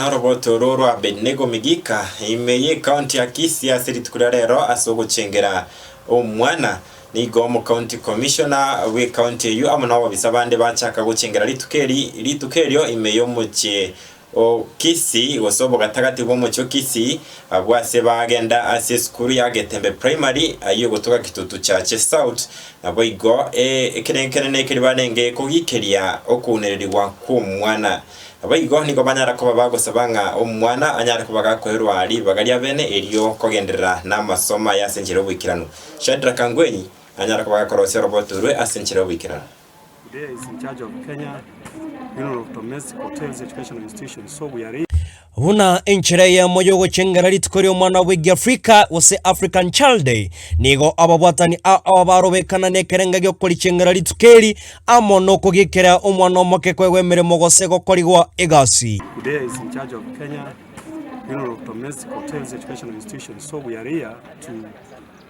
Noroboto oro rwa Abednego Migika ime y'Ekaonti ya Kisii ase rituko ria rero ase ogochengera omwana. Nigo Omokaonti Commissioner bw'Ekaonti eyio amo nababisa bande bachaka gochengera rituko eri rituko erio ime y'omochie o Kisii gose obogatagati bw'omochie o Kisii abwo ase bagenda ase esukuru ya Getembe Primary ayio gotoka Kitutu Chache South naboigo ekerengo kenene ekeri barenge kogikeria okounererigwa kw'omwana Naboigo nigo banyara koba bagosaba ng'a omwana anyare koba gakoirwa ribaga riabene erio kogenderera namasomo aye ase enchera y'oboikeranu. Shadrack Ngwenyi nanyare koba gakorosia oroboto orwe ase enchera y'oboikeranu. There is in charge of Kenya Bureau of Domestic Hotels Educational Institutions so we are. Buna enchera eyemo y'ogochengera rituko ri'omwana bwe Giafrika gose African Child Day, nigo ababwatani ao barobekana nekerenga gi'okorichengera rituko eri amo nokogiekera omwana omoke koegwa emeremo gose gokorigwa egasi. Budeya is in charge of Kenya Bureau of Domestic Hotels Educational Institutions so we are here to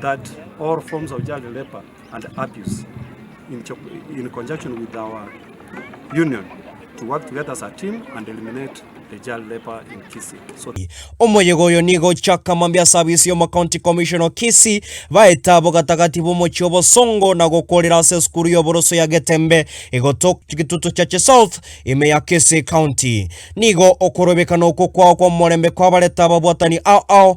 that all forms of child labour and abuse in co in conjunction with our union to work together as a team and eliminate the child labour in Kisii. So Omoyega oyo nigo ochaka mambia ase abisi y'omo County Commission o Kisii baeta abo gatagati b'omochie o Bosongo na gokorera ase esukuru y'oboroso ya Getembe igoto Kitutu Chache South ime ya Kisii County. Nigo okorobekana okwo kwao kw'omorembe kwabarete ababwatani ao ao